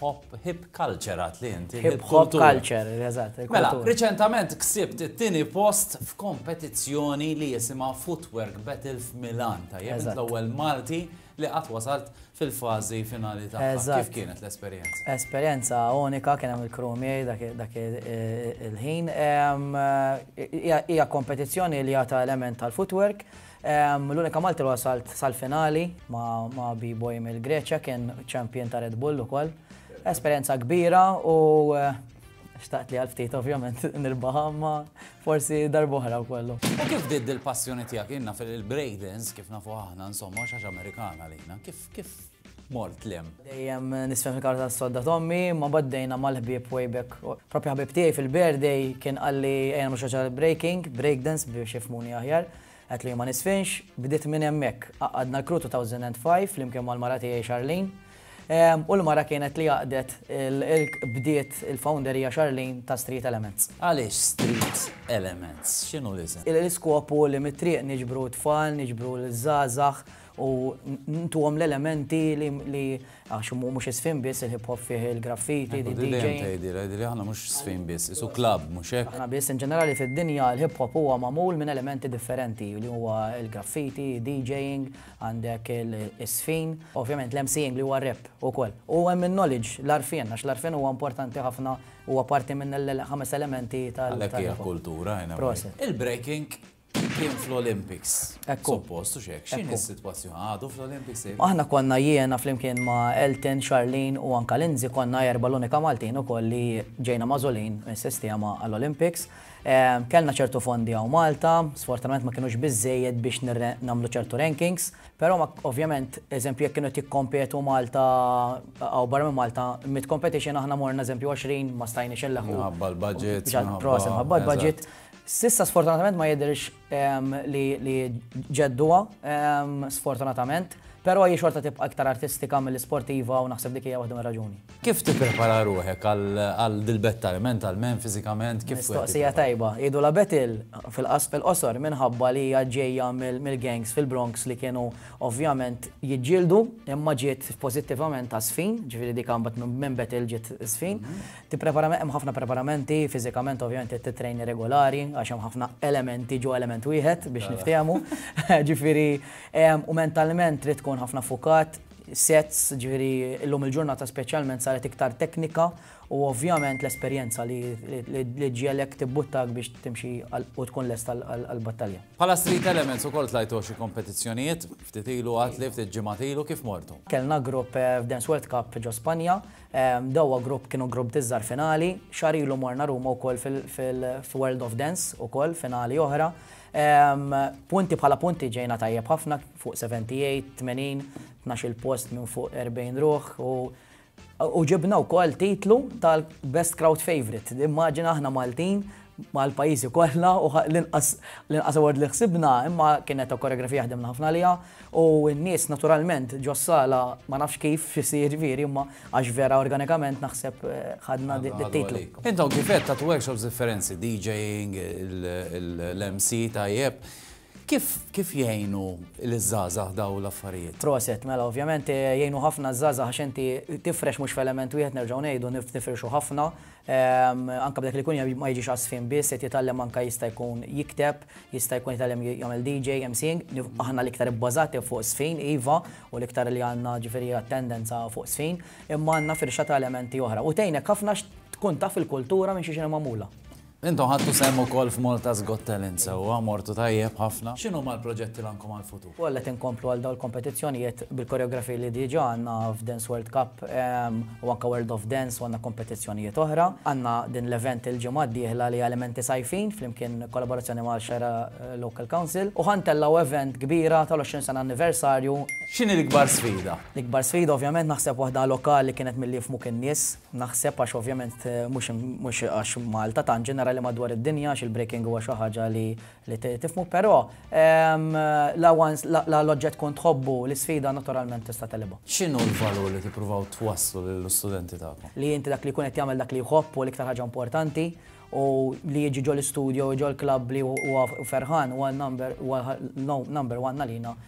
Hop Hip Culture għad li inti. Hip Hop Culture, eżatt. Mela, riċentament ksibt it-tieni post f'kompetizzjoni li jisimha Footwork Battle f'Milan, tajjeb l-ewwel Malti li qatt wasalt fil-fażi finali ta' Kif kienet l-esperjenza? Esperjenza unika kien hemm il-krumi dak il-ħin. Hija kompetizzjoni li għata element tal-footwork L-unika Malti li wasalt sal-finali ma' B-Boy mill-Greċja kien champion ta' Red Bull ukoll. Esperjenza kbira u xtaqt li għal-ftit ovvjament nirbaħa ma' forsi darbohra u kollu. U kif bdiet dil-passjoni tiegħek? Jien naf il-breakdance kif nafu aħna insomma xaġa Amerikana lina. Kif Mort l-hemm. Dejjem nisfen fil-kamra tas-sodda t'ommi, imma b'għaddejna mal-ħbieb way back. Proprju ħabib tiegħi fil-birthday kien qalli ejja nagħmlu xi ħaġa breaking, breakdance biex jifhmuni aħjar. Għedtlu jien ma nisfinx, bdiet minn hemmhekk. Għaqqadna l-crew 2005 flimkien mal-mara tiegħi Charlene. U l-mara kienet li għaqdet bdiet il-founder hija Charlene ta' Street Elements. Għaliex Street Elements? X'inhu l-isem? L-iskop hu li mit-triq niġbru t-tfal, niġbru liż-żgħażagħ u ntuhom l-elementi li għax mhux isfin biss il-hip hop fih il-graffiti, di DJ. Tgħidilha, tgħidilha aħna mhux sfin biss, isu klabb mhux hekk. Aħna biss in ġenerali fid-dinja l-hip hop huwa magħmul minn elementi differenti li huwa l-graffiti, DJing, għandek is-sfin, ovvjament l-MCing li huwa rap ukoll. U hemm in-knowledge, l-arfien, għax l-arfien huwa importanti ħafna huwa parti minn l-ħames elementi tal-kultura. Il-breaking kien fl-Olympics. Ekku. Suppost, u xek, xini s-situazzjoni għadu fl-Olympics? Aħna konna jiena flimkien ma' Elton, Charlene u anka Lindsay konna erba l-unika Maltin u kolli ġejna mażolin s-sistema għall-Olympics. Ehm, kellna ċertu fondi għaw Malta, sfortunatament ma kienux bizzejed biex namlu ċertu rankings, pero ma ovvjament, eżempju, jek kienu tikkompetu Malta għaw barra minn Malta, mit competition aħna morna eżempju 20 ma stajni xellaħu. Għabba l-budget. Prosen, għabba l-budget. S'issa sfortunatament ma jidhirx li ġedduha, sfortunatament, però hi xorta tibqa' iktar artistika milli sportiva u naħseb dik hija waħda mir-raġuni. Kif tipprepara ruħek għal dil-bett tal-, mentalment, fiżikament, kif. Mistoqsija tajba. Jgħidulha Betel fil-qosor minħabba li hija ġejja mill-gangs fil-Bronx li kienu ovvjament jiġġieldu imma ġiet pożittivament għażfin, ġifieri dik mbagħad minn Betel ġiet żfin. Tippreparament, hemm ħafna preparamenti, fiżikament ovvjament trid tittrejni regolari għax hemm ħafna elementi ġo element wieħed biex niftehmu. Ġifieri, u mentalment trid tkun ħafna fukat, sets, ġifieri illum il-ġurnata speċjalment saret iktar teknika u ovvjament l-esperjenza li ġġiegħlek tibbuttak biex timxi u tkun lesta għall-battalja. Bħala Street Elements ukoll tlajtu xi kompetizzjonijiet, ftit ilu għadtli, ftit ġimgħat ilu, kif mortu? Kellna grupp f'Dance World Cup ġo Spanja, Dowa Group kienu grupp diż-Żgħar finali. Xahar ilu morna Ruma wkoll fil-World of Dance ukoll finali oħra. Punti bħala punti ġejna tajjeb ħafna fuq 78, 80, tnax-il post minn fuq 40 ruħ u ġibna wkoll titlu tal-Best Crowd Favorite. Immaġina aħna Maltin mal-pajjiżi kollha u l-inqas award li ħsibna imma kienet koreografija ħdimna ħafna għaliha U n-nies naturalment ġos-sala ma nafx kif x'isir ġifieri imma għax vera organikament naħseb ħadna dit-titlu. Int hawn kif għedt għad workshops differenzi, DJing, l-MC tajjeb. Kif jgħinu liż-żgħażagħ dawn l-affarijiet? Proset, mela ovvjament jgħinu ħafna ż-żgħażagħ għax inti tifrex mhux f'element wieħed nerġgħu ngħidu nifirxu ħafna. Anke b'dak li jkun ma jiġix għas-żfin biss qed jitgħallem anke jista' jkun jikteb, Jista' jkun jitgħallem jagħmel DJ, emceeing, aħna l-iktar ibbażati fuq żfin, iva, u l-iktar li għandna ġifieri attendenza fuq żfin, imma għandna firxa ta' elementi oħra. U tgħinek ħafna tkun taf il-kultura minn xiex inhi magħmula. Intom ħadtu sehem ukoll f'Malta's Got Talent sewwa, mortu tajjeb ħafna. X'inhuma l-proġetti li għandkom għall-futur? u għalhekk inkomplu għal dawn il-kompetizzjonijiet bil-koreografiji li diġà għandna f'Dance World Cup u anke World of Dance u għandna kompetizzjonijiet oħra. Għandna din l-event il-ġimgħa d-dieħla li hija Elementi Sajfin flimkien kollaborazzjoni ma' Xera Local Council u ħa ntellgħu event kbira tal-20 sena anniversarju. X'inhi l-ikbar sfida? L-ikbar sfida ovvjament naħseb waħda lokali kienet milli jifhmuk in-nies, naħseb għax ovvjament mhux għax Malta tant ġenerali madwar id-dinja għax il-breaking huwa xi ħaġa li Li tifhmu, però la once la l-oġġett tkun tħobbu, l-isfida naturalment tista' tegħlibha. X'inhu l-valur li tippruvaw twasslu lill-istudenti tagħkom? Li inti dak li jkun qed jagħmel dak li jħobb hu l-iktar ħaġa importanti u li jiġi ġol-istudio u ġol-klabb li huwa ferħan huwa number one għalina.